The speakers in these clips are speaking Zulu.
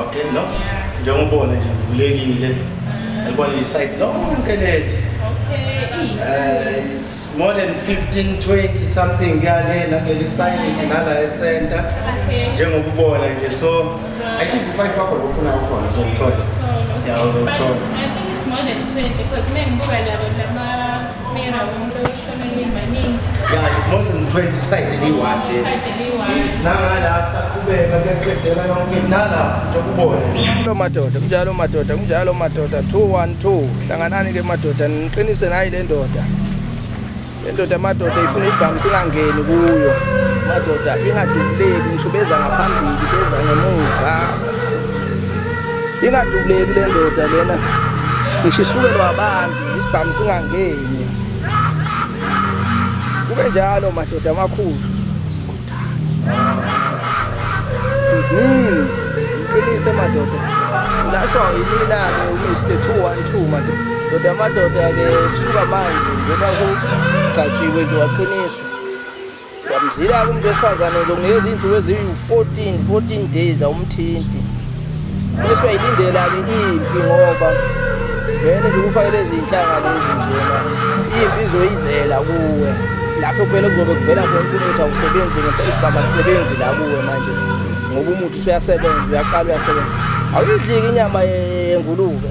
okay no njengoba ubona nje vulekile yabona le site lonke leli eh is more than 15 20 something kuyalena leli site nala ecenter njengoba ubona nje so i think u5 wakho lo ufuna ukhona uzokuthola yeah uzokuthola i think it's more than 20 because mina ngibuka labo lama Mira, umuntu oshonele maningi. Yeah, it's more than 20 side the one day. Side the one. Yes, nangala kusaqhubeka kuyaqedela yonke nala nje kubona. Lo madoda, kunjalo madoda, kunjalo madoda 212. Hlanganani ke madoda, niqinise nayi le ndoda. Le ndoda madoda ifuna isibhamu singangeni kuyo. Madoda ingadubuleki, ngisho beza ngaphambili, beza ngemuva. Ingadubuleki le ndoda lena. Ngisho isukelwa abantu. isibhamu singangeni kube njalo madoda amakhulu mhm. ngiqinise madoda ngashwa yimina-ke umr two one two madoda doda amadoda-ke kusuka manje njengoba kugcatshiwe nje waqiniswa Yamzila-ke umuntu wesifazane ngizokunikeza iy'nsuku eziwu-14 14 days awumthinti bese uyayilindela-ke impi ngoba vele nje kufanele izinhlanga lezi njena impi izoyizela kuwe lapho kuphela kuzobe kuvela khona ukuthi awusebenzi ngempela isigaba sisebenzi la kuwe manje ngoba umuthi usuyasebenza uyaqala uyasebenza awuyidliki inyama yengulube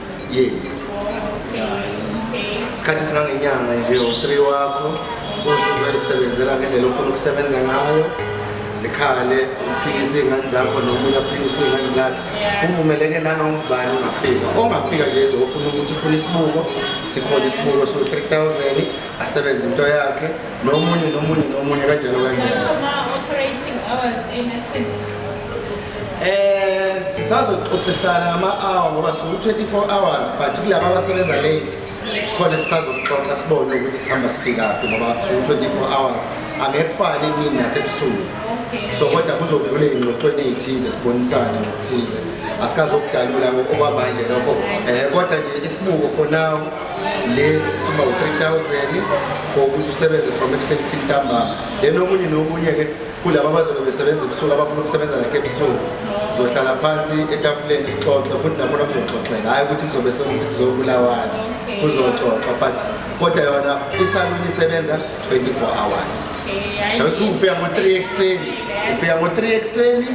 yes isikhathi esingangenyanga nje u-three wakho uzozayisebenzela ngendlela ofuna ukusebenza ngayo zikhale uphikise iy'ngane zakho nomunye aphikise iy'ngane zakhe kuvumeleke nangangubani ongafika ongafika nje ezofuna ukuthi ufuna isibuko sikhona isibuko so-three thousand asebenze into yakhe nomunye nomunye nomunye kanjalo kanjalo eh sisazoxoxisana ngama-hour ngoba siwu-24 hours but kulaba abasebenza late khona sisazoxoxa sibone ukuthi sihamba sifikaphi ngoba siwu-24 hours angeke kufane emini nasebusuku so kodwa kuzovula iy'ngxoxweni ey'thize sibonisane ngokuthize asikazokudalula okwamanje lokho um kodwa nje isibuko for now lesi suma u-3000 for ukuthi usebenze from ekuseni till ntambama then okunye nokunye-ke kulaba abazobe besebenza ebusuku abafuna ukusebenza lakhe ebusuku sizohlala phansi etafuleni sixoxe futhi nakhona kuzoxoxeka hhayi ukuthi kuzobe sekuthi kuzobulawana kuzoxoxa but kodwa yona isaluni isebenza 24 hours shawuthi ufika ngo-3 ekuseni ufika ngo-3 ekuseni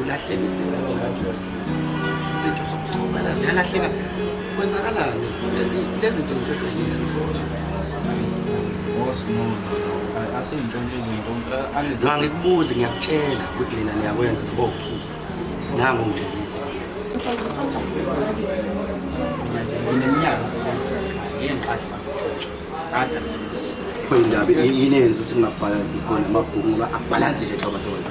ulahleka izinto izinto zokuxhumana ziyalahleka kwenzakalani lezi zinto into ejwayelekile mfowethu ngangikubuzi ngiyakutshela ukuthi nina niyakwenza nabokuthuza nango ngitshela khona indaba yini yenza ukuthi ngingabhalansi khona amabhuku ngoba abhalansi nje thoba thoba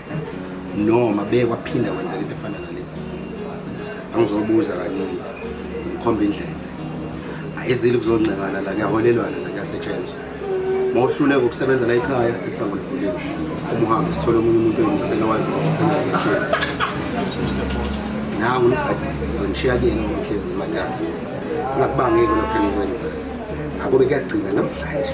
noma beye kwaphinda kwenzeka into efana nalezi angizobuza kaningi ngikhomba indlela ayizile kuzoncengana la kuyaholelwana la kuyasetshenzwa ma uhluleka ukusebenza la ekhaya isango livuliwe uma uhambe sithole omunye umuntu oyingisela wazi ukuthi ufuna ngishiya nangu umgadi ngishiya kuyena ngohlezi ngematasa singakubangeki lokho engikwenzayo ngakube kuyagcina namhlanje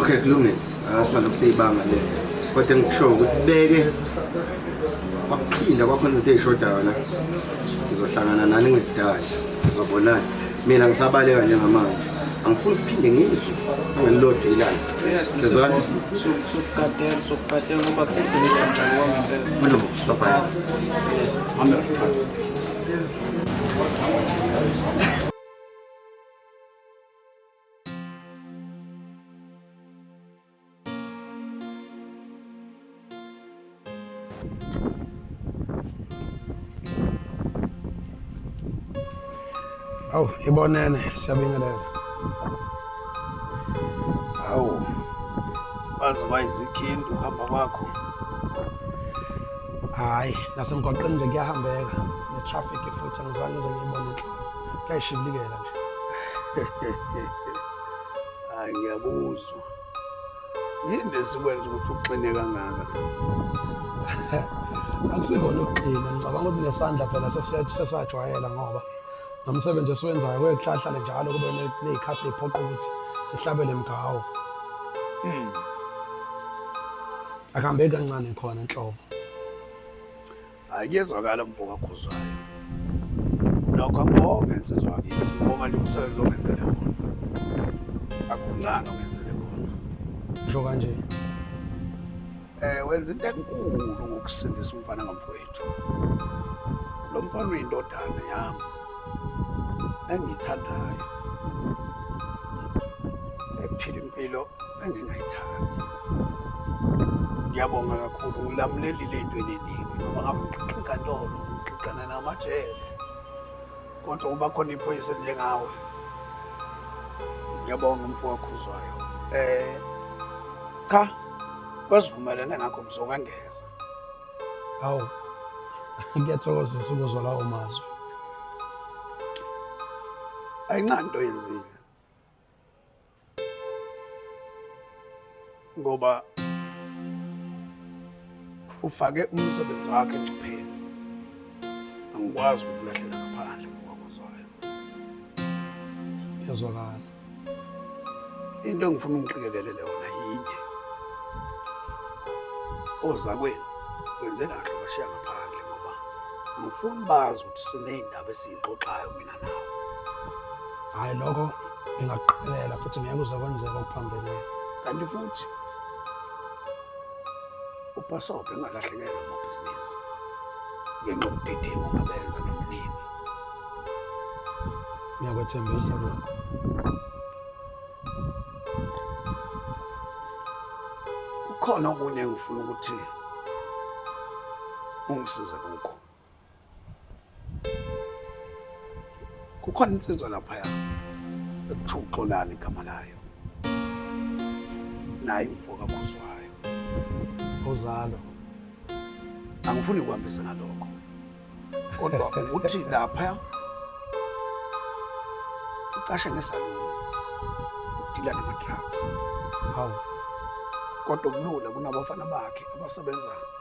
okay kulungile asima lokuseyibanga le kodwa engikushoyo ukuthi beke kwaphinda kwakhona izinto ey'shodayo la sizohlangana nani ngekudala sizobonana mina ngisabaleka njengamanje angifuni ukuphinde ngizwe angelilodwa ilanga sezwani mlomo babhaya Awu, ibonene siyabingelela. Awu. Waze wayizikhindu uhamba kwakho. Hayi, nasemgwaqeni nje kuyahambeka. Ne-traffic futhi angizange ngize ngiyibone. Kuyayishibilikela. hayi ngiyakuzwa yini lesikwenza ukuthi uxine kangaka akusikona ukuxina ngicabanga ukuthi nesandla phela sesajwayela ngoba nomsebenzi esiwenzayo kwekuhlahlale njalo kube ney'khathi ey'phoqa ukuthi sihlabele mgawo hmm. akuhambeki kancane khona nhlobo Hayi kuyezwakala mfoka Khuzwayo. Nokho ngibonge insizwa yakithi, ngibonga nje umsebenzi ongenzele wona. Akuncane ongenzele wona. Ngisho kanje. Eh wenza into enkulu ngokusindisa umfana ngamfowethu. Lo mfana uyindodana yami engiyithandayo ephila impilo engingayithandi. Ngiyabonga kakhulu ulamulelile into eningi ngoba ngabe uqiqa inkantolo uqiqana namajele kodwa uba khona iphoyisa elinjengawe ngiyabonga umfo wakho uzwayo eh cha kwasivumelene ngakho ngizokangeza hawu ngiyathokozisa ukuzwa lawo mazwi ayincanto yenzile ngoba ufake umsebenzi wakhe engcupheni angikwazi ukulahlela ngaphandle ngokwakho zwayo yazwakala into engifuna ungiqikelelele yona yinye ozakwenu wenze kahle bashiya ngaphandle ngoba ngifuna bazi ukuthi siney'ndaba esiyixoxayo mina hayi lokho ngingakuqikelela futhi ngeke uze kwenzeka okuphambene kanti futhi ubhasobhe engalahlekelwa amabhizinisi ngenxa yobudedengu ngabenza nomnini ngiyakwethembisa lokho kukhona okunye engifuna ukuthi ungisize kukho kukhona insizwa laphaya ekuthiwa uxolani igama layo naye umfo kakhuzwayo uzalo angifuni ukuhambisa ngalokho kodwa ukuthi lapha ucashe ngesaluni udila nama-drugs hawu kodwa kulula kunabafana bakhe abasebenzayo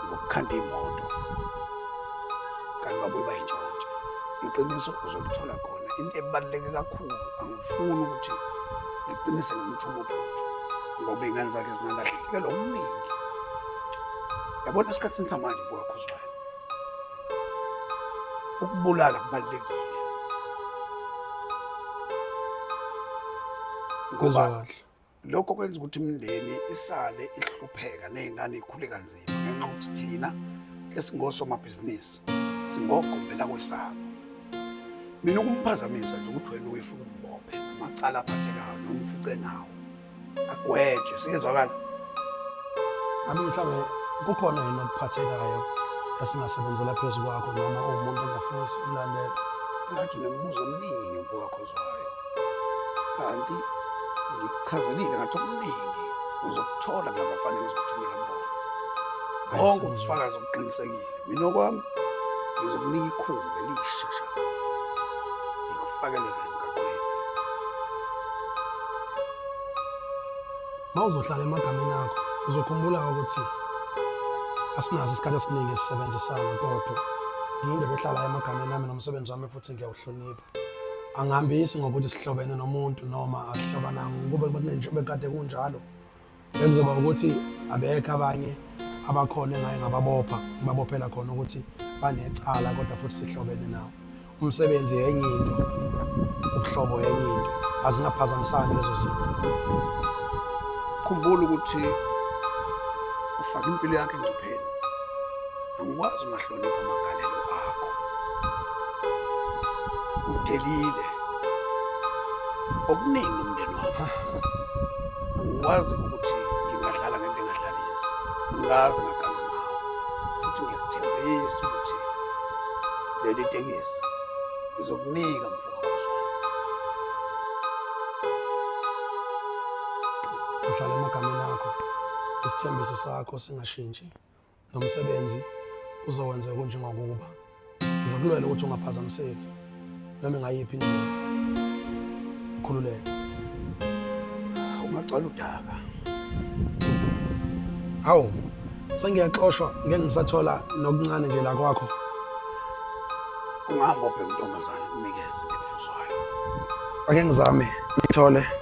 ngokukhanda imoto kanti babuye bayintshontshe iqiniso uzolithola khona into ebaluleke kakhulu angifuni ukuthi ngiqinise ngimthuma uphuthu ngoba iy'ngane zakhe zingalahlekela okuningi yabona esikhathini samanje bukakhuzwayo ukubulala kubalulekile ngoba lokho kwenza ukuthi imindeni isale ihlupheka ney'ngane ikhule kanzima ngenxa ukuthi thina esingosomabhizinisi singogombe lakwesabo mina ukumphazamisa nje ukuthi wena uyifuna umbophe amacala aphathekayo noma ufice nawo agwetshwe siyezwakala ami mhlawumbe kukhona yini okuphathekayo esingasebenzela phezu kwakho noma uwumuntu ongafuni sikulandela ngathi unembuzo omningi mfowakho kanti ngikuchazelile ngathi okuningi uzokuthola ngabafanele uzokuthumela mbona bonke ubufakazi obuqinisekile mina okwami ngizokunika ikhulu elishesha ngikufakelele emgaqweni ma uzohlala emagameni akho uzokhumbula ukuthi asinazo isikhathi esiningi esisebenzisana kodwa ngiyindoda ehlala emagameni ami nomsebenzi wami futhi ngiyawuhlonipha angihambisi ngokuthi sihlobene nomuntu noma asihlobananga kube kunenje bekade kunjalo bekuzoba ukuthi abekho abanye abakhona engaye ngababopha ngibabophela khona ukuthi banecala kodwa futhi sihlobene nawo umsebenzi yenye into ubuhlobo yenye into azingaphazamisani lezo zinto khumbula ukuthi ufake impilo yakhe engcupheni Angikwazi ungahlonipha amagalelo akho. Udelile. Okuningi umndeni wakho. Angikwazi ukuthi ngingadlala ngento engadlalisi. Ngazi ngaganga ngawo. Futhi ngiyakuthembisa ukuthi leli tekisi ngizokunika mfo. uhlala emagameni akho isithembiso sakho singashintshi lo msebenzi uzowenza kunjengokuba ngizokulwela ukuthi ungaphazamiseki noma ingayiphi indlela ukhululeke ungacala udaka hawu sengiyaxoshwa ngeke ngisathola nokuncane nje la kwakho ungahamba obheka untombazane kunikeze ngiphuzayo ake ngizame ngithole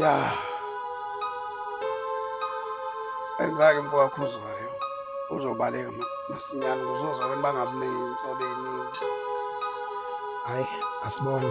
ya enzake mfo kakhuzwayo uzobaleka masinyane kuzoza abantu bangabuningi inhlolo eningi hayi asibone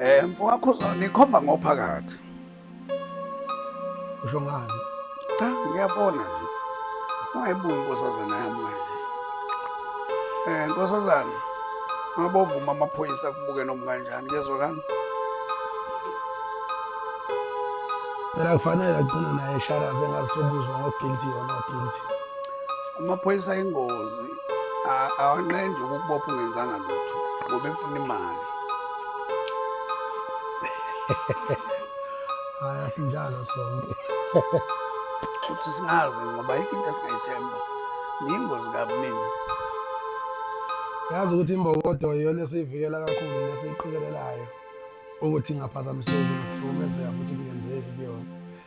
Eh mfowakho uzona ikhomba ngophakathi. Usho ngani? Cha ngiyabona nje. Ungayibuki inkosazana yami manje. Eh nkosazana mabovuma amaphoyisa kubuke noma kanjani kezwe kami. Phela kufanele agcine naye sharaze ngazi sobuzwa ngo guilty or not guilty. amaphoyisa ayingozi awanqendi ukukubopha ungenzanga lutho ngoba efuna imali hayi asinjalo sonke futhi singazi ngoba yikho into esingayithemba niyingozi kabi mina yazi ukuthi imbokodo iyona esiyivikela kakhulu nesiyiqikelelayo ukuthi ingaphazamiseki nokuhlukumezeka futhi kungenzeki kuyona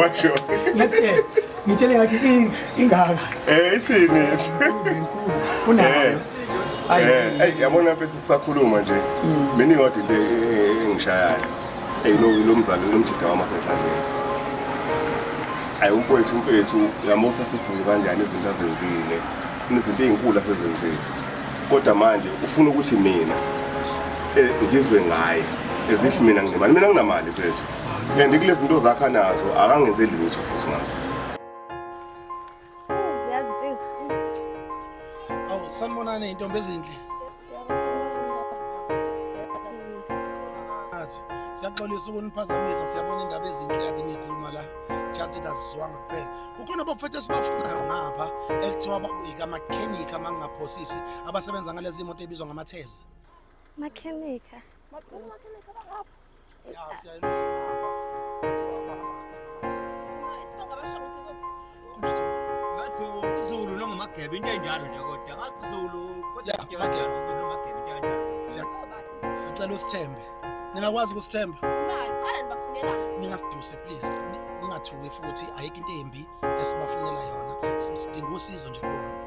washo ngiyakutshela ngitshele ngathi ingaka eh ithini unayo eh. ayi eh, yabona mfethu sisakhuluma nje mm. mina ingodi le eh, engishayayo hey lo lo mzali lo mjida wama sethandeni ayi umfowethu umfethu yamusa sisizulu kanjani izinto azenzile Izinto ezinkulu asezenzile. Kodwa manje ufuna ukuthi mina eh, ngizwe ngaye as if mina nginemali. Mina nginamali mfethu. And kulezi zinto zakha nazo akangenze lutho futhi ngazo. Yazi mfethu. Awu sanibonani intombi ezinhle. siyaxolisa ukuniphazamisa siyabona indaba ezinhle kade niyikhuluma la just it azizwanga kuphela kukhona abafethu esibafunayo ngapha ekuthiwa ikamakhenikha uma ngingaphosisi abasebenza ngalezi moto ebizwa ngamathezi makhenikha Zulu noma magebe into enjalo nje kodwa ngazulu kodwa into enjalo Zulu noma magebe into enjalo sicela usithembe ningakwazi ukusithemba qala nibafunela ningasiduse please ningathuki futhi ayikho into embi esibafunela yona sidinga usizo nje kubona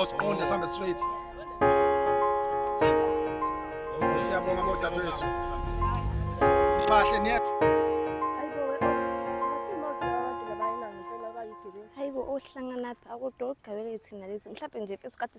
Osiqonde oh, sambe straight. Siyabonga bodadewethu. Bahle niye. Hayibo ohlangana phi akudoqgabele thina lezi mhlawumbe nje mfethu kade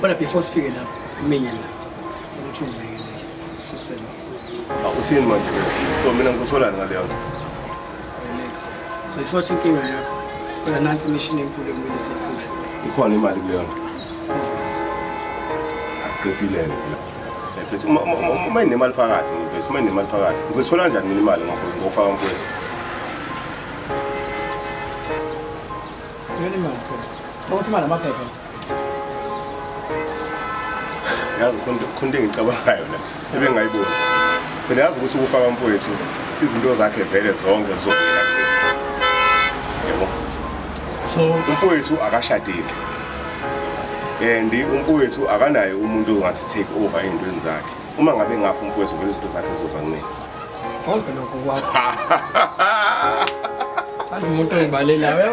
Kodwa before sifike lapho mina ukuthi ungilekelele susela. Awusini manje bese. So mina ngizosolana ngale yakho. Relax. So isothi inkinga yakho. Kodwa nansi imishini enkulu ekumele siyikhushe. Ikhona imali kuleyo. Conference. Aqedile mina. Mfethu uma uma inemali phakathi mfethu uma inemali phakathi. Ngizothola kanjani mina imali ngofaka ngofaka mfethu. Yini manje? Thokothi manje amaphepha. yazi khonto engicabangayo la ebengayiboni phela yazi ukuthi ukufa kamfowethu izinto zakhe vele zonke zizovela yebo so umfowethu akashadile and umfowethu akanaye umuntu ongathi take over ey'ntweni zakhe uma ngabe ngafa umfowethu vele izinto zakhe zizoza kunini konke lokho kwakho thanda umuntu oyibalelayo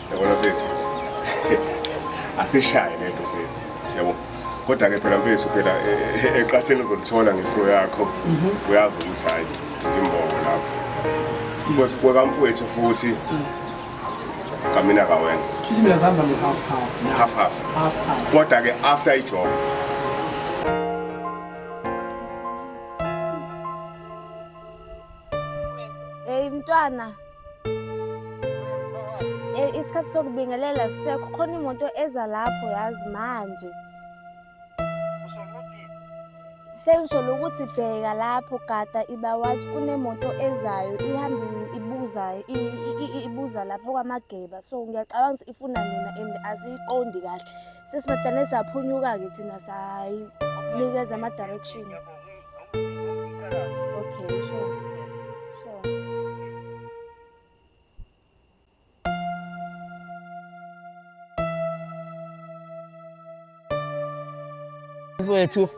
yabona mfethu asishaye lento mfethu yabo kodwa ke phela mfethu phela e, e, eqatheni uzolithola ngefro yakho mhm. uyazi ukuthi hayi ngimbongo lapho kwekamfowethu futhi mm. kamina kawena half half kodwa ke after ijob Hey mntwana Eh, isikhathi sokubingelela sisekho khona imoto eza lapho yazi manje sengisholo ukuthi bheka lapho gada ibawathi kunemoto ezayo ihambe ibuza ibuza lapho kwamageba so ngiyacabanga ukuthi ifuna nina and aziyiqondi kahle sesimadane saphunyuka-ke thina sayinikeza ama-direction okay sure sure wethu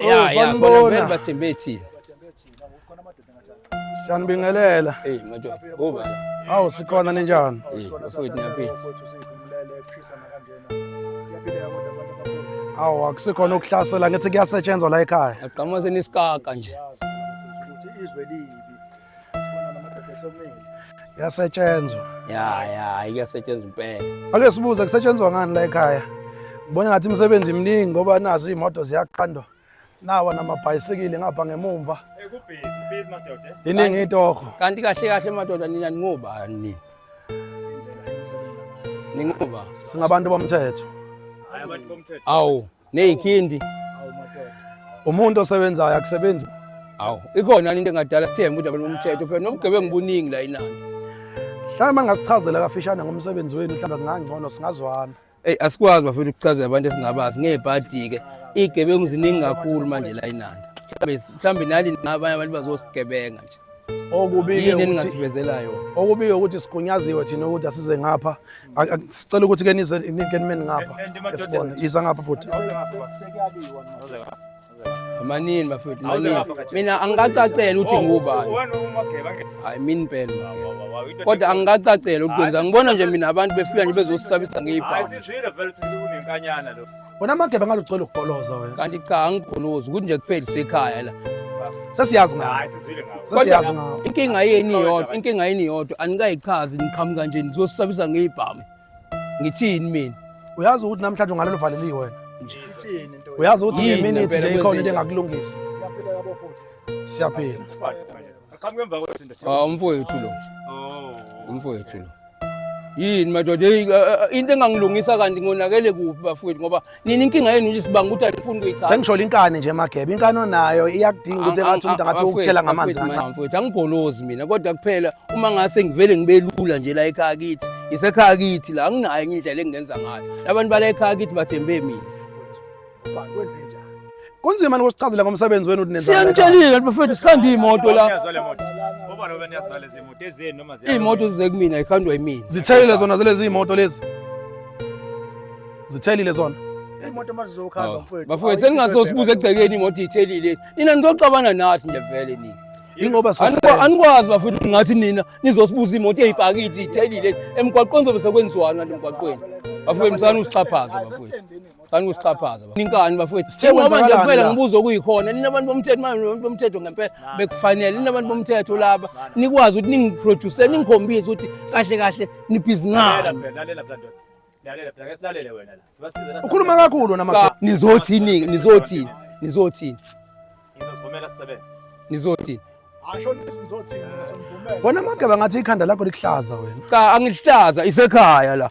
ya ya khona vele bathembe ethini Siyanibingelela. Hey madoda. Kuba. Hawu sikhona ninjani? Mfowethu ngiyaphila. Hawu akusikhona ukuhlasela ngithi kuyasetshenzwa la ekhaya. Asiqhamuka senisikaka nje. Izwe libi. Sibona namadoda ehlomile. Yasetshenzwa. Ya ya iyasetshenzwa impela. Ake sibuze kusetshenzwa ngani la ekhaya? Ngibona ngathi imisebenzi iminingi ngoba nazi imoto ziyaqandwa. nawa namabhayisikili ngapha ngemumva iningi itoho kanti kahle kahle madoda nina ningobani nini ningoba singabantu bomthetho awu neyikhindi umuntu osebenzayo akusebenzi awu ikhona into engadala sithembe udaba lomthetho phela nobugebengu buningi la inandi mhlawumbe angasichazela kafishane ngomsebenzi wenu mhlawumbe kungangcono singazwana Hey asikwazi bafethu ukuchazela abantu esingabazi ngebhadi ke. Igebengu ziningi kakhulu manje la inanda. Mhlawumbe mhlawumbe nali nabanye abantu bazosigebenga nje. Okubike Yini ukuthi eningasivezela yona? okubike ukuthi sigunyaziwe thina ukuthi asize ngapha. Ak- ak- Sicela ukuthi ke nize ke nimeni ngapha. Esibone. Yiza ngapha bhuti. Manini bafethu. Mina angikacacela ukuthi ngubani. Hayi mina impela. Kodwa angikacacela ukwenza. Ngibona nje mina abantu befika nje bezosisabisa ngeyibhasi. Wena mageba ngathi ucela ukugoloza wena. Kanti cha angigolozi ukuthi nje kupheli sekhaya la. Sesiyazi ngawo. Sesiyazi ngawo. Inkinga yeni yodwa, inkinga yeni yodwa anikayichazi niqhamuka nje nizosisabisa ngeyibhamu. ngithini mina uyazi ukuthi namhlanje ungalelo valeliwe wena ngithini nto uyazi ukuthi Yini ngeminute ngempela nje ikhona into kwenzekile? engakulungisa Uyaphila yabo bhuti. siyaphila Aqhamuke emva kwethu ndoda. Ah, umfowethu lo Oh. umfowethu lo yini madoda eyi, eh, eh, into engangilungisa kanti ngonakele kuphi bafowethu ngoba nini inkinga yenu nje sibanga ukuthi anifuni kuyicala sengisholo inkani nje magebe inkani onayo iyakudinga ukuthi engathi umuntu angathi ukuthela ngamanzi kancane mfowethu angibholozi mina kodwa kuphela uma ngase ngivele ngibelula nje la ekhaya kithi ngisekhaya kithi la anginayo enye indlela engingenza ngayo labantu bala ekhaya kithi bathembe mina Kunzima nikusichazela ngomsebenzi wenu ukuthi Siyanitshelile bafethu sikhanda imoto la. Imoto zize kumina ikhandwa yimina. Zithelile zona zilezi imoto lezi. Zithelile zona. Imoto mazizokhamba oh. mfethu. Bafethu seningazosibuza egcekeni imoto ithelile. Nina nizoxabana nathi nje vele nina. Ingoba anikwazi bafethu ngathi nina nizosibuza imoto eyipakiti ithelile emgwaqweni zobe sekwenziwana lemgwaqweni. Bafethu msana usixhaphaza bafethu. Qani kusixhaphaza bafo. Ninkani bafowethu. Sithe Ngoba nje kwenzakalani kuphela la? ngibuza okuyikhona. Ninabantu bomthetho manje abantu bomthetho ngempela bekufanele ninabantu bomthetho laba. Nikwazi ukuthi ningiproduce ningikhombise ukuthi kahle kahle nibhizi ngani. ukhuluma kakhulu wena madoda Nizothini nizothini nizothini Ngizovumela sisebenze. nizothini. wena mageba ngathi ikhanda lakho likuhlaza wena Cha angihlaza isekhaya la.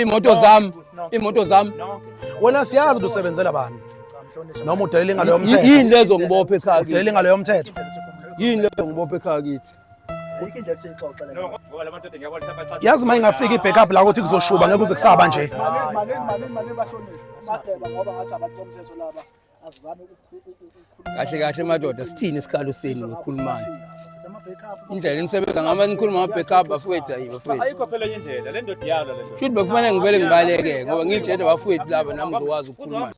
iy'moto zami iy'moto zami wena siyazi ukuthi usebenzela bani noma udelela ingalo yomthetho yini lezo ngibophe ekhaya kithi udelela ingalo yomthetho yini lezo ngibophe ekhaya kithi yazi uma ingafika i-backup la ukuthi kuzoshuba ngeke uze kusaba nje kahle kahle madoda sithini isikhalo senu ngikhulumani indlela enisebenza ngama nikhuluma ngama-backup bafowethu ayi bafowethu ayikho phela enye indlela le ndoda iyalwa le ndoda shuthi bekufanele ngivele ngibaleke ngoba ngitshele bafowethu laba nami ngizokwazi ukukhuluma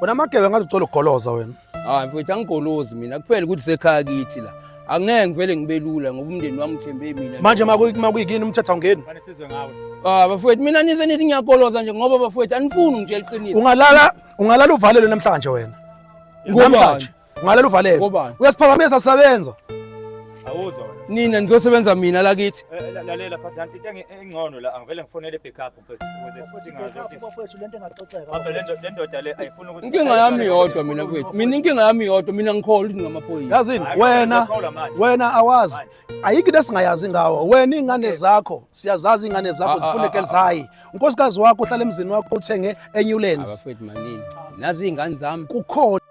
wena amagebe ngathi ucela ukugoloza wena Hayi mfowethu angigolozi mina kuphela ukuthi sekhaya kithi la. Angeke ngivele ngibe lula ngoba umndeni wami uthembe mina. Manje makuyi- makuyikini umthetho awungeni Fane sizwe ngawe. Ah bafowethu mina nize nithi ngiyagoloza nje ngoba bafowethu anifuni ngitshela iqiniso. ungalala ungalala uvalelwe namhlanje wena Ngobani? namhlanje ungalala uvalelwe Ngobani? uyasiphakamisa sisebenza Awuzwa wena. Nina nizosebenza mina la kithi. Eh, la- Lalela phathana into engi- engcono la angivele ngifonele backup. inkinga yami yodwa mina kwethu mina inkinga yami yodwa mina ngikholwa ukuthi ngamaphoyisa yazini wena wena awazi ayikho into esingayazi ngawo wena iy'ngane zakho siyazazi iy'ngane zakho zifuna egirls high unkosikazi wakho uhlala emzini wakho uthenge enyulands nazi iy'ngane zami kukhona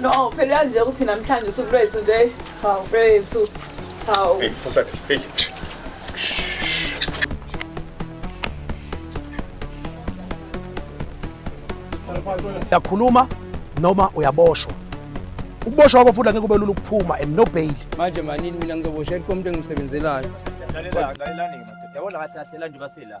No, phela uyazi nje ukuthi namhlanje usuku lwethu nje. Hawu bethu. Hawu. Hey, fusa. Hey. Yakhuluma noma uyaboshwa. Ukuboshwa kwakho futhi angeke kube lula ukuphuma and no bail. Manje manini mina ngizoboshela komuntu engimsebenzelayo. Yabona kahle kahle la nje basela.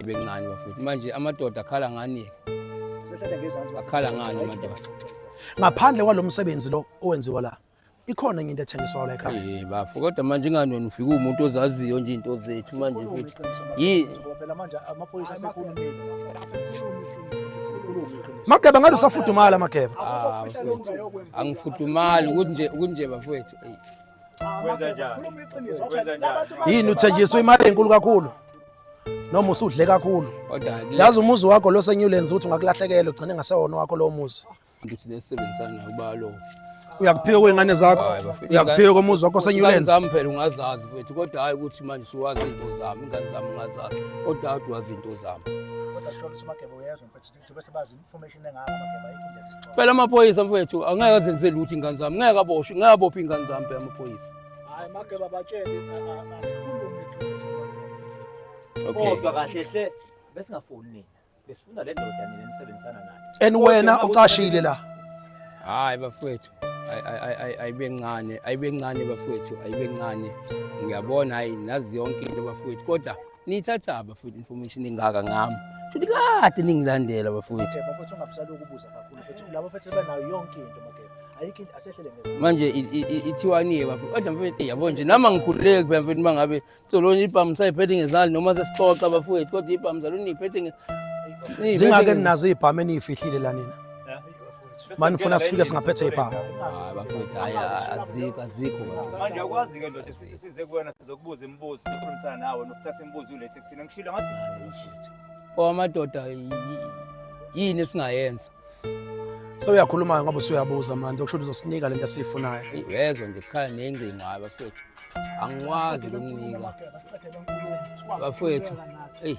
ibencane bafethu manje amadoda akhala ngani akhala ngani amadoda ngaphandle kwalo msebenzi lo owenziwa la ikhona enye into ethengiswa la ekhaya eh bafo kodwa manje ingani wena ufika umuntu ozaziyo nje into zethu manje futhi yini phela manje amaphoyisa asekhulumile mageba ngathi usafudumala mageba ah, angifudumali ukuthi nje ukuthi nje bafowethu yini uthenjiswa imali enkulu kakhulu noma usudle kakhulu yazi umuzi wakho lo senyulenzi ukuthi ungakulahlekela ugcine ngasewona wakho lowo muzi ngithi nesebenzisana uba lo uyakuphika kwey'ngane zakho uyakuphika komuzi wakho senyulenzi zami phela ungazazi kwethu kodwa hhayi ukuthi manje suwazi into zami ingane zami ungazazi kodwa hhayi ukuthi wazi into zami Phela amaphoyisa mfethu angeke azenzele ukuthi ingane zami ngeke aboshwe ngeke abophe ingane zami phela amaphoyisa. Hayi mageba batshele asikhulume iqiniso. Kodwa kahle hle besingafuni nina. Besifuna le ndoda nina nisebenzisana nayo. And wena ucashile la. Hayi bafethu. ayibencane ayibencane bafowethu ayibencane ngiyabona hayi nazi yonke into bafowethu kodwa Niyithatha bafowethu information engaka ngami. Futhi kade ningilandela bafowethu. Bafowethu ungabusali ukubuza kakhulu futhi labo futhi banayo yonke into makela. Ayikho into asehlele ngezwe. Manje ithiwani bafowethu? Kodwa mfowethu yabo nje nama ngikhululeki phela mfowethu mangabe solona ibhamu sayiphethe ngezandla noma sesixoxa bafowethu kodwa ibhamu zaluniphethe nge Zingake ninazo ibhamu eniyifihlile la nina. Mani funa sifike singaphethe ipha. Hayi bafowethu hayi azikho azikho. Manje akwazi ke ndoda sithi size kuwena sizokubuza imibuzo sikhulumisana nawe nokuthatha imibuzo ulethe kuthina ngishilo ngathi Bo amadoda yi- yini esingayenza? Sewuyakhuluma ngoba usuyabuza manje okusho ukuthi uzosinika lento esiyifunayo. Eyi, Uyezwa nje kukhala nengcingo hayi bafowethu. Angikwazi ukunika bafowethu. Eyi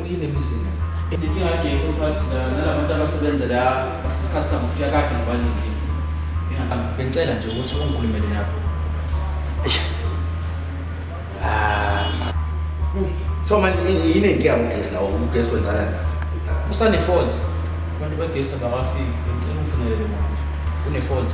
yini emizini izinkinga kagesi umphakathi la nalabantu abasebenza la isikhathi sabo kufika kade ngibalinde bengicela nje ukuthi ungikhulumele nabo so manje yini engiya ugesi lawo ugesi kwenzana la usane fault abantu bagesi abakafiki ngicela ungifunelele manje une fault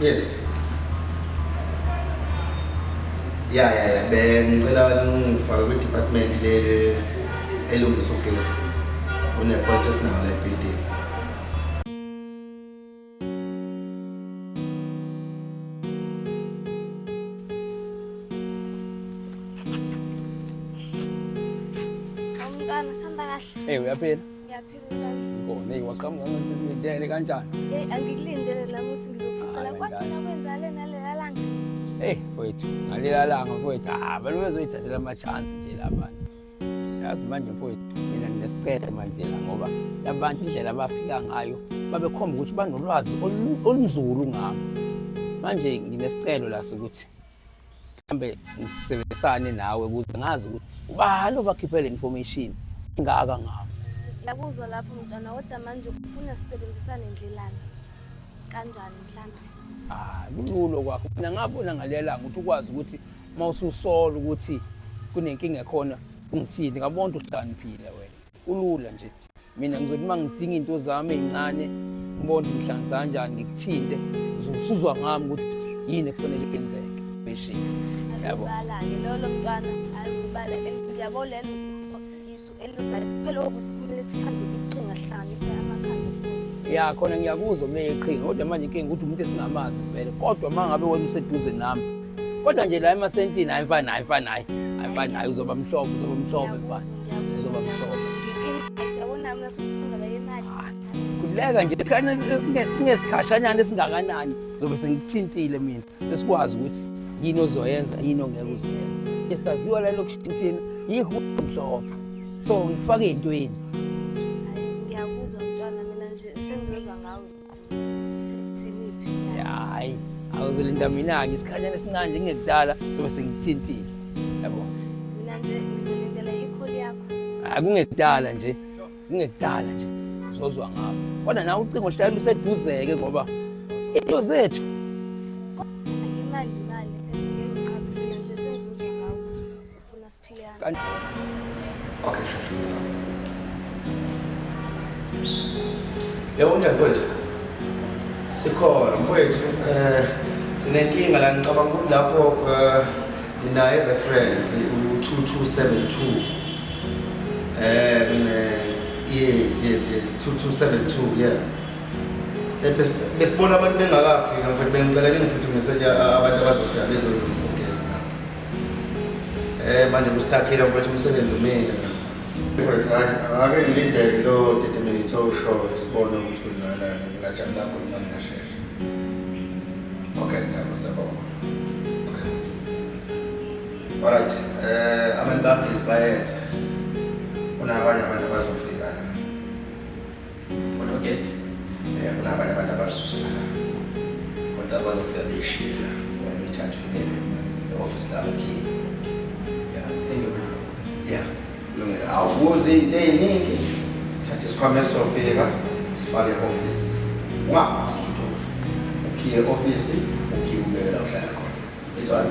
Yes. Ya ya ya bengicela ningifake kwi department leli elungisa ugesi. Une fault esinawo la building. Umntwana hamba kahle. Hey, uyaphila. Ngiyaphila unjani? Ngone waqhamuka ngidele kanjani? Hey angikulindele nami ukuthi ngizokufutha la kwathi nakwenza le nalela langa. Hey mfowethu, ngalela langa mfowethu. Ah, bani bezoyithathela ama chance nje labana. Yazi manje mfowethu, mina nginesicelo manje la ngoba labantu indlela abafika ngayo babekhomba ukuthi banolwazi olunzulu ngami. Manje nginesicelo la sokuthi mhlambe ngisebenzisane nawe ukuze ngazi ukuthi ubani obakhiphe le information ingaka ngabo yakuzwa lapho mntwana kodwa manje ufuna sisebenzisane ndlelani kanjani mhlambe ah kulula kwakho mina ngabona ngalelanga ukuthi ukwazi ukuthi uma ususola ukuthi kunenkinga ekhona ungithini ngabona ukuthi uhlaniphile wena kulula nje mina ngizothi uma ngidinga into zami ey'ncane ngibona ukuthi mhlanzi kanjani ngikuthinte uzosuzwa ngami ukuthi yini ekufanele yenzeke beshini yabo bala-ke lolo mntwana ayibala yabo lelo isu elibathi phela ukuthi kumele sikhambe iqhinga sihlanganise amakhanda sifundise ya khona ngiyakuzwa kumele iqhinga kodwa manje inkinga ukuthi umuntu esingamazi vele kodwa uma ngabe wena useduze nami kodwa nje la emasentini hayi mfana hayi mfana hayi hayi mfana hayi uzoba mhlophe uzoba mhlophe mfana Kuleka nje singesikhashanyana esingakanani zobe sengithintile mina sesikwazi ukuthi yini ozoyenza yini ongeke uzoyenza esaziwa la lokushintsheni yihu mhlophe so ngifake entweni Hayi, awuzolinda mina-ke isikhanyana esincane nje kungekudala sobe sengithintile. Yabo. Mina nje ngizolindela ikholi yakho. Hayi kungekudala nje. Kungekudala nje. Uzozwa ngapha. Kodwa nawe ucingo hlala luseduzeke ngoba into zethu Okay, shushu. Yebo unjani mfowethu? Sikhona mfowethu eh sinenkinga la ngicabanga ukuthi lapho eh ninaye reference u2272 eh kune yes yes yes 2272 yeah Eh, bes- besibona abantu bengakafika mfowethu bengicela ningiphuthumise nje a- abantu abazofika bezolungisa ugesi lapho Eh manje mustakile mfowethu umsebenzi umile ngapha. Mfowethu hayi ake ngilindele lo determinate show sibone ukuthi kwenzakalani ngajabula kakhulu manje ngashesha. Okay ndaba sabona. Okay. Alright. Eh abantu babhizi bayeza. Kunabanye abantu abazofika. Yes. Eh kunabanye abantu abazofuna. Kodwa bazofika beshila ngoba imithathu ibele e-office labo key. Yeah, sengiyona. Yeah. Kulungile. Awubuzi into eziningi. Thatha isikhwama esofika sifake e-office. Ungabuzi into. Ukhiye e-office, ukhiye ubekela uhlala khona. Izwani?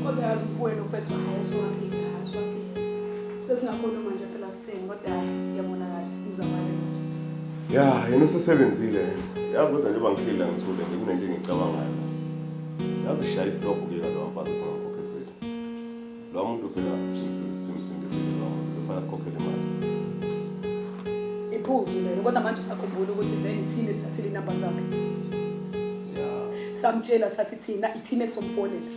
Kodwa yazi kuwena ufethu hayi usuwaphika, hayi usuwaphika. Sesingakhuluma nje phela sisini kodwa ngiyabona kahle uzamane nje. Ya, yena usesebenzile yena. Yazi kodwa njengoba ngiphile la ngithule nje kunento engicabangayo. Yazi shaya iflobhu ke lo mfazi singakhokhe sethu. Lo muntu phela simsiza simsinde sindile lo muntu kufanele sikhokhele imali. Iphuzu lelo kodwa manje usakhumbula ukuthi vele ithini esithathile inamba zakhe. samtshela sathi thina ithina esomfonela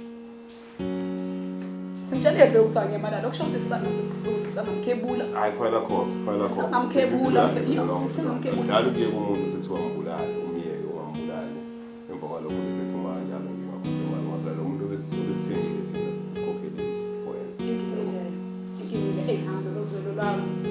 simtshelile vele ukuthi angemalala okusho ukuthi sisangaze isikhathi sokuthi sisangamkhebula hayi kufanele khona kufanele sisangamkhebula sisangamkhebula njalo kuye kumuntu sekuthiwa mbulale umyeke wambulale emva kwalokho bese phuma njalo ngiwakhuluma ngoba lo muntu obesithengile thina sikhokhele for yena inkinga leyo inkinga leyo ehambe lozwelo lwami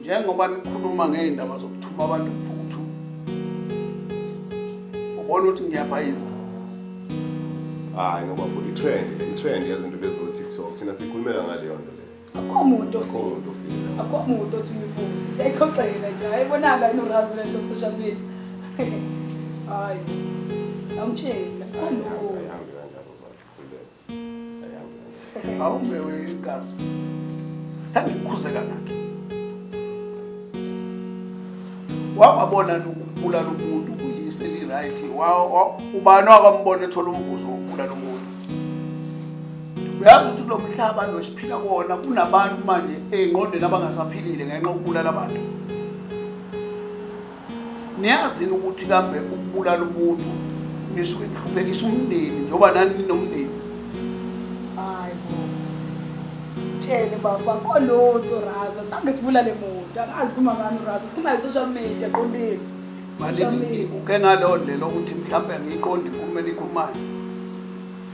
njengoba nikhuluma ngey'ndaba zokuthuma abantu phuthu ubona ukuthi ngiyabhayiza hayi ngoba futhi i-trend i-trend yezinto lezo tiktok thina sikhulumela ngaleyo nto leyo akho muntu ofika akho muntu othi uyiphuthe siyayixoxela nje hayi bonaka inorazi lento social media hayi awumtshela akho muntu awumewe igazi sangikukhuze kangaki wababona nokubulala umuntu kuyise li-right ubani wakwambona ethola umvuzo wokubulala umuntu uyazi ukuthi kulo mhlaba lo siphila kona kunabantu manje ey'ngqondweni abangasaphilile ngenxa yokubulala abantu niyazini ukuthi kambe ukubulala umuntu nisuke nihluphekisa umndeni njengoba nani ninomndeni hayi bo tshele baba kolotho razo sange sibulale muntu angazi kumamani urazo sikhuluma social media qondile manje uke ngaleyo ndlela ukuthi mhlawumbe angiyiqondi inkulumo enikhulumayo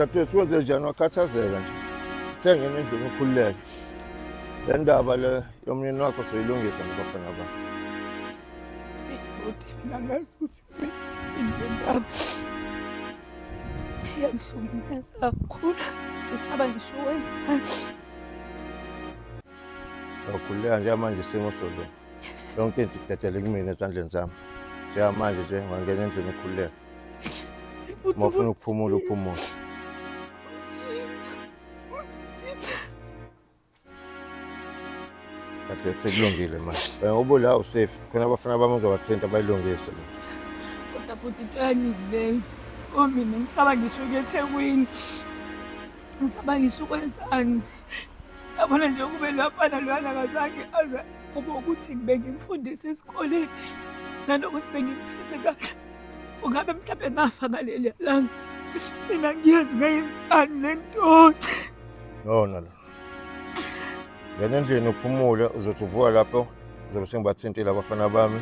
dadewethu kwenze njani wakhathazeka nje thengena endlini ukhululeke le ndaba le yomyeni wakho soyilungisa ngibafana ba bhuti mina ngazi ukuthi ngiyisini le ndaba iyangihlumeza kakhulu ngisaba ngisho wenzani Ngiyaguleka njengamanje isimo solo. Yonke into idedele kumina ezandleni zami. Njengamanje nje ngangena endlini ukhululeka. Uma ufuna ukuphumula uphumule. Kade sekulungile manje. Wena ubula usafe. Khona abafana bami uzobathinta bayilungise. Kodwa bhuti into yaningi leyo. Omina ngisaba ngisho ukuthi ekwini. Ngisaba ngisho ukwenzani. yabona nje kube lwafana lwana kazange aze kube ukuthi bengimfundise esikoleni nanokuthi bengimphethe kahle ungabe mhlawumbe ngafa ngaleli langa mina ngiyazi ngayenzani le nto no no no ngena endlini uphumule uzothi uvuka lapho uzobe sengibathintile abafana bami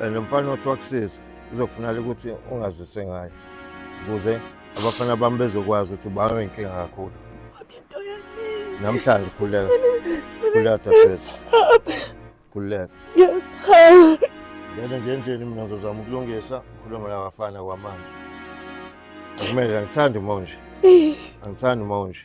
and lo mfana othi wakusiza uzofunala ukuthi ungazise ngayo ukuze abafana bami bezokwazi ukuthi babe inkinga kakhulu namhlanje khuleka khuleka dadewethu khuleka yes ngene nje endlini mina ngizozama ukulungisa ngikhulume nabafana kwamanje akumele angithandi uma unje angithandi uma unje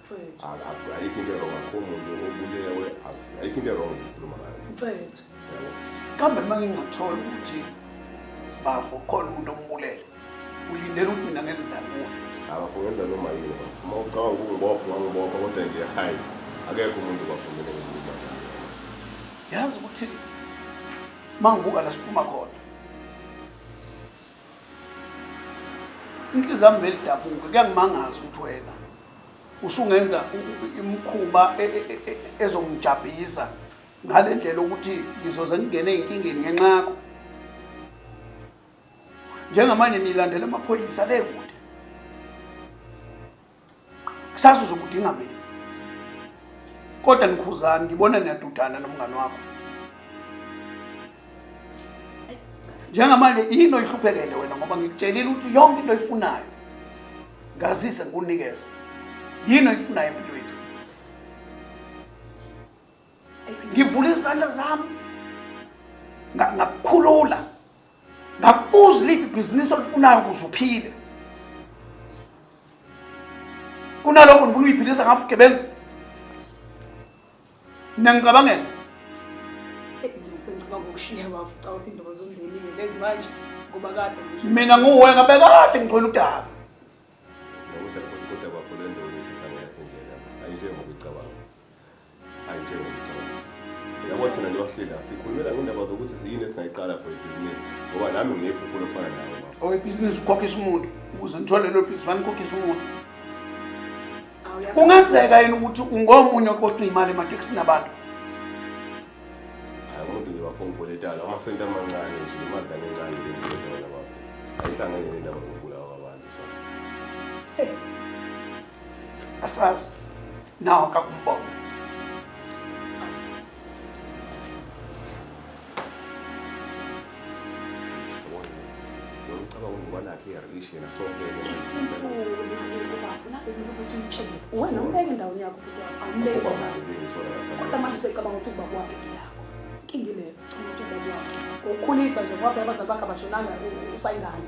Mfowethu. A- a- ayikho into erong akho muntu obulewe akusi- ayikho into erong esikhuluma ngayo Mfowethu. Yabo. kambe uma ngingathola ukuthi bafo khona umuntu ombulele ulindele ukuthi mina ngenze njani kuwe abafo ngenza noma yini bafo. uma ucabanga ukungibopha ungangibopha kodwa nje hayi akekho umuntu bafumele ngikhuluma ngayo yazi ukuthi uma ngibuka la siphuma khona inhliziyo yami belidabuka kuyangimangaza ukuthi wena usungenza imkhuba e, e, e, ezongijabhisa ngale ndlela ukuthi ngizoze ngingene ey'nkingeni ngenxa yakho njengamanje nilandela amaphoyisa le kude kusasa uzokudinga mina kodwa nikhuzani ngibona niyadudana nomngane wakho njengamanje yini oyihluphekele wena ngoba ngikutshelile ukuthi yonke into oyifunayo ngazise ngikunikeza yini oyifunayo empilweni ngivula izandla zami ngakukhulula ngakubuza liphi ibhizinisi olifunayo ukuze uphile kunalokho ndifuna uyiphilisa ngapha ugebengu niyangicabangela mina nguwe ngabe kade ngigcwele udaba yabo thina njengohleli sikhulumela ngendaba zokuthi siyini esingayiqala for ibhizinisi ngoba nami nginephupho lokufana nawe owebhizinisi ukhokhisa umuntu ukuze ngithole lelo bhizinisi banikhokhisa umuntu kungenzeka yini ukuthi ungomunye oqoqa iy'mali ematekisini abantu hayi umuntu nje bafuna ukuboletala amasenti amancane nje imali kane encane leyoona babo ayihlangene nendaba zokubulawa kwabantu asazi Now kakumbona. Ngicabanga ukuba nakhe iyarishi yena sonke. Isinkulu ubafuna ukuthi umtshele. Wena umbeke endaweni yakho ukuthi awumbeke. Kodwa manje usecabanga ukuthi ubaba wakhe ngiyakho. Inkinga ile. Ukhulisa nje ngoba abazali bakhe abashonanga usayingane.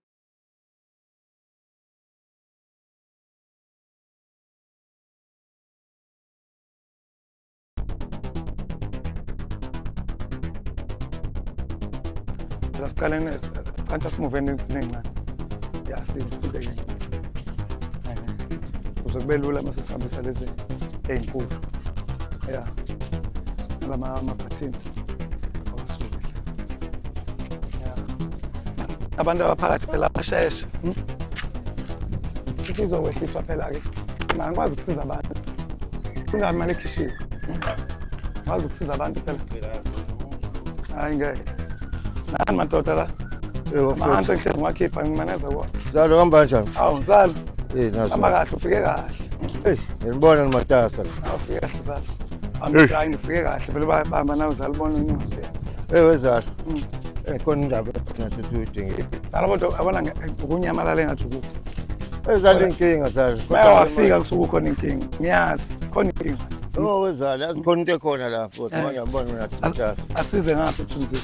asiqaleni cansa simuveni encane ya sibeke kuze kube lula uma sesihambisa lezi ey'nkulu ya lama maphathini abantu abaphakathi phela basheshe hmm? futhi izokwehliswa phela-ke mani kwazi ukusiza abantu kungabi mali ekhishiwe wazi hmm? ukusiza abantu phela hayi ngeke nani madoda la mahansi ngihlezi ngiwakhipha ngimaneza kuwa zalo kuhamba kanjani awu mzalo hamba kahle ufike kahle ngibona nimatasa ufike kahle Zala. Hey. Hayi ngifike kahle vele bayabamba nawe zala ubona unyaso yenza. Hey wezala. Mm. Eh khona indaba esina sithi uyidingile. Zala kodwa abona nge- ukunyamalala engathi ukufa. Hey zala inkinga zala. Baya wafika kusuke ukhona inkinga. Ngiyazi khona inkinga. Oh wezala yazi khona into ekhona la futhi Eh. manje ngibona mina thathasa. Asize ngaphi uthunzile.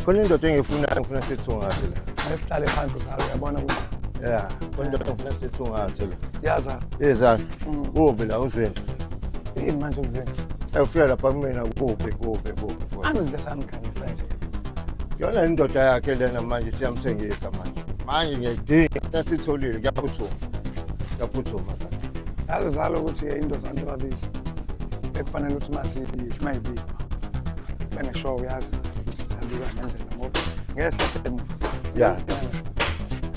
Khona indoda engiyifunayo ngifuna sithungathe la. Asihlale phansi zala uyabona ukuthi Yeah, khona indoda engifuna sithungathe la. yazala. Hey zala. Kuphi la uZinhle? Yini manje uZinhle? Ewufika lapha kumina kuphi kuphi kuphi futhi. Angizinto esangikhangisa nje. Yona indoda yakhe lena manje siyamthengisa manje. Manje ngiyayidinga esitholile kuyaphuthuma. Kuyaphuthuma sana. Yazi zalo ukuthi into zanto babili. Ekufanele ukuthi masiyibili mayibili. Bene show uyazi ukuthi sihambiwa ngendlela ngoba ngeke sihlale emuva. Yeah.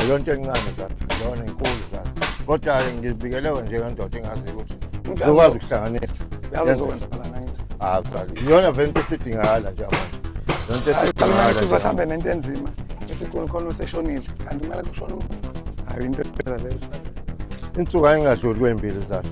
yonto encane zami lona inkulu zami kodwa-ke ngibikelewe njengendoda engazi ukuthi zokwazi ukuhlanganisa iyona vele into esidingakala nje abantu yonto esidingakalahambe nento enzima esikhulu khona useshonile kanti kumele kushona umuntu hayi into ephela leyo insuku ayingadluli kwey'mbili zakhe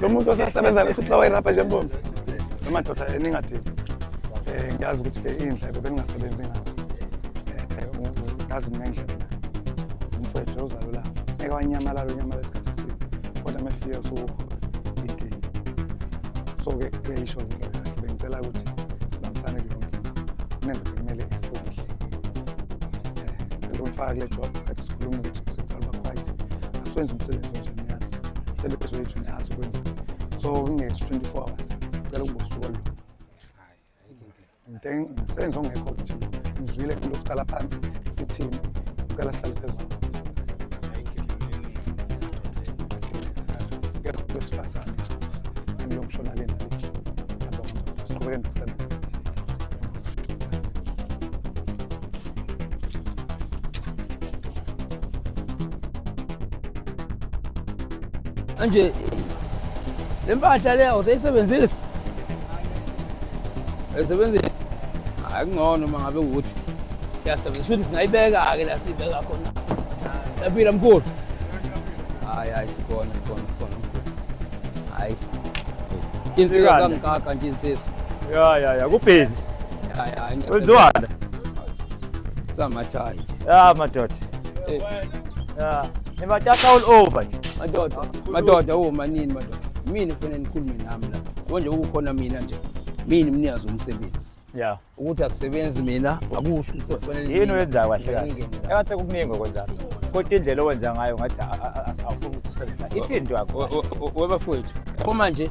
lo muntu osasebenza lehluphla wayirabha nje mbombe emadoda eningadini um ngiyazi ukuthi-ke iy'ndlebe beningasebenzi ngathi um ngazi ninendlebe nayo umfowethu ozalulapho ngeke wanyamalala unyamalala isikhathi eside kodwa mefika usuwukho inkinga so-ke kuyayisho inkinga yakhe bengicela ukuthi sibambisane kuyo nkinga kunento bekumele isifundile um ngicela umfaka kule job kade sikhuluma ukuthi sicela uba-right asiwenze umsebenzi onjani sebenzi wethu nazo kwenza so ngingethi 24 hours cela ukubusuka lo msebenzi ongekho nje ngizwile into yokuqala phansi sithini cela sihlale phezulu wesifazane angiyomshona lena siqhubeke nokusebenza Manje le mpahla le awuseyisebenzile? Ayisebenzile? Hayi kungcono uma ngabe ukuthi siyasebenzisa ukuthi singayibeka-ke la siyibeka khona. Siyaphila mkhulu. Hayi hayi sikhona sikhona sikhona. Hayi. Insizwa zangikaka nje insizwa. Ya ya ya kubhizi. Hayi, hayi, ngeke. Wenziwani? Samachayi. Ya madoda. Eh, Ya. Nibathatha all over nje. Madoda, madoda, oh manini madoda. Mina kufanele nikhulume nami la. Konje ukukhona mina nje. Mina umnikazi womsebenzi. Ya. Ukuthi akusebenzi mina, akusho ukuthi kufanele Yini mina- oyenzayo kahle mina kahle? ngingene la. Engathi kuningi okwenzayo. Kodwa indlela owenza ngayo ngathi a- a- a- awufuni ukuthi usebenza. Ithini into yakho? Webafowethu, uma nje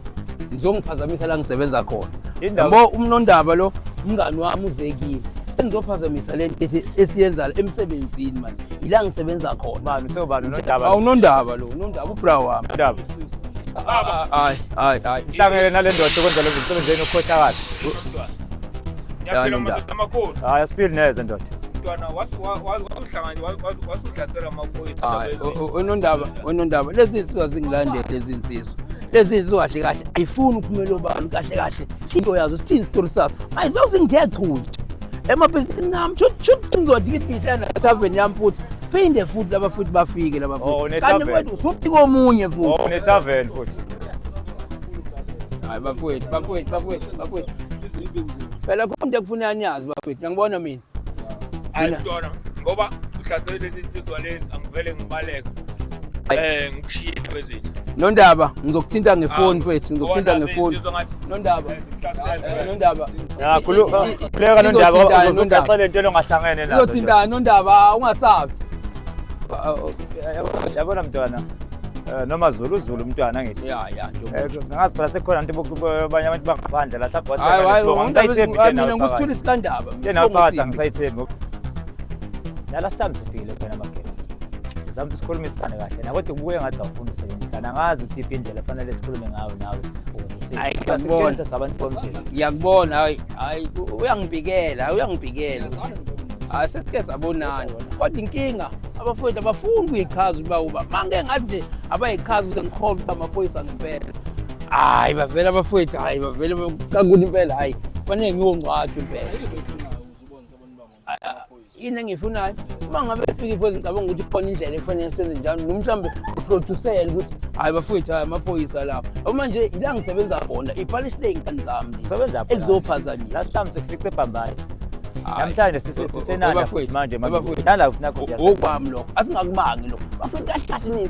ngizongiphazamisa la ngisebenza khona yabo umnondaba lo umngani wami uzekile sengizophazamisa le nto esiyenza emsebenzini manje yila ngisebenza khona unondaba lo unondaba ubra wami hayi hayi hayi nhlangele nale ndoda okwenza lezo msebenzi yenu ukhohlakala hayi asiphili neze ndoda unondaba unondaba lezi nsizwa zingilandele lezi nsizwa lezi zinto kahle kahle ayifuni uphumela obani kahle kahle into yazo sithini isitori sazo ayi those ngiyagcuntsha emabhizinisi nami shuthi ngizodikidisana taveni yami futhi phinde futhi laba futhi bafike laba futhi oh, kanti kwethu futhi komunye futhi oh, unetaveni futhi hayi bafowethu bafowethu bafowethu bafowethu phela khona into ekufuneka niyazi bafowethu ngibona mina hayi kudona ngoba uhlasele lezi nsizwa lezi angivele ngibaleka eh ngikushiye bezithu nondaba ngizokuthinta ngefoni mfethu ngizokuthinta ngefoni nondaba nondaba khuleka nondaba uzoxela into longahlangene nayo uzothinta nondaba ungasabi yabona mntwana Eh, noma zulu zulu umntwana ngithi ya ya eh, ngazi phela sekukhona nto abanye abantu bangaphandle la mina ngikuthula isikandaba Yena Isibongo uqatha simbi. ngisayithembi. La last time sifikile khona magebe. Sizama ukuthi sikhulumisane kahle. Nawe kodwa ubuye ngathi awufuni ukusebenzisana. Angazi ukuthi iphi indlela efanele sikhulume ngayo nawe. ukuze usinde. Ayi, Kodwa ngiyakubona. sikutshengisa sabantu bomjeni. ngiyakubona hayi hayi u- uyangibikela hayi uyangibikela hayi sesike sabonana kodwa inkinga abafowethu abafuni ukuyichaza ukuba uba mange ngathi nje abayichazi ukuze ngikholwe ukuba amaphoyisa ngempela hayi bavele abafowethu hayi bavele kakuthi impela hayi fanele ngiyongcwathwa impela yini engiyifunayo uma ngabe efika iphoyisa ngicabanga ukuthi khona indlela efanele senze njalo noma mhlawumbe uproducele ukuthi hhayi bafowethu hhayi amaphoyisa lapho uma nje ila ngisebenza khona ipalishi ley'ngane zami ekuzophaza nje last time sekufice ebhambayo namhlanje sisenanalafowethu manje nalafowethu nakho okwami lokho asingakubangi lokho bafowethu kahle kahle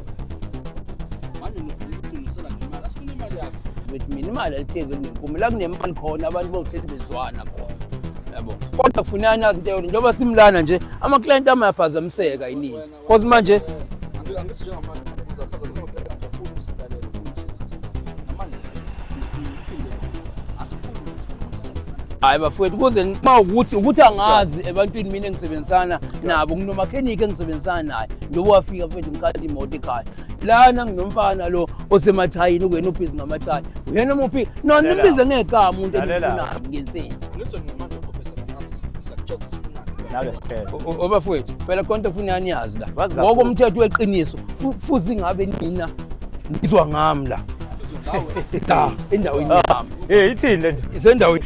with mina imali alihlezi elinenkume la kunemali khona abantu bokuhlezi bezwana khona yabo kodwa kufuneka nazi into yona njengoba simlana nje amaklayenti ami ayaphazamiseka yinini cause manje hayi bafowethu kuze uma ukuthi ukuthi angazi ebantwini mina engisebenzisana nabo nginomakheniki engisebenzisana naye njengoba wafika mfethu ngikhala imoto ekhaya lana nginomfana lo osemathayini kuyena ubhizi ngamathayi uyena muphi no nimbize ngegama umuntu endifunayo ngensini obafowethu phela konke kufuneka niyazi la ngoko umthetho weqiniso futhi ngabe nina ngizwa ngami la la endaweni ah, yami eh ithini le nto isendaweni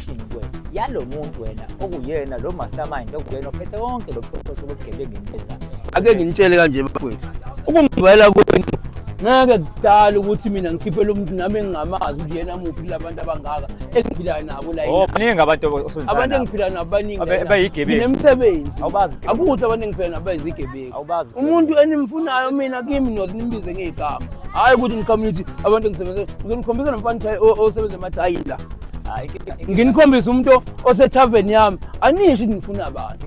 yalo muntu wena okuyena lo mastermind okuyena ophethe konke lo buchwepheshe bobugebengu enibenzani ake nginitshele kanje bafowethu ukungibayela kwenu ngeke kudala ukuthi mina ngikhiphele umuntu nami engingamazi ukuthi yena muphi kula bantu abangaka engiphila nabo la oh baningi abantu osunzana abantu engiphila nabo baningi abayigebengu nemisebenzi awubazi akuthi abantu engiphila nabo bayizigebengu awubazi umuntu enimfunayo mina kimi nothi nimbize ngegama hayi ukuthi ngicommunity abantu engisebenza uzonikhombisa nomfana osebenza emathayi la nginikhombisa umuntu osethaveni yami anisho ukuthi ngifuna abantu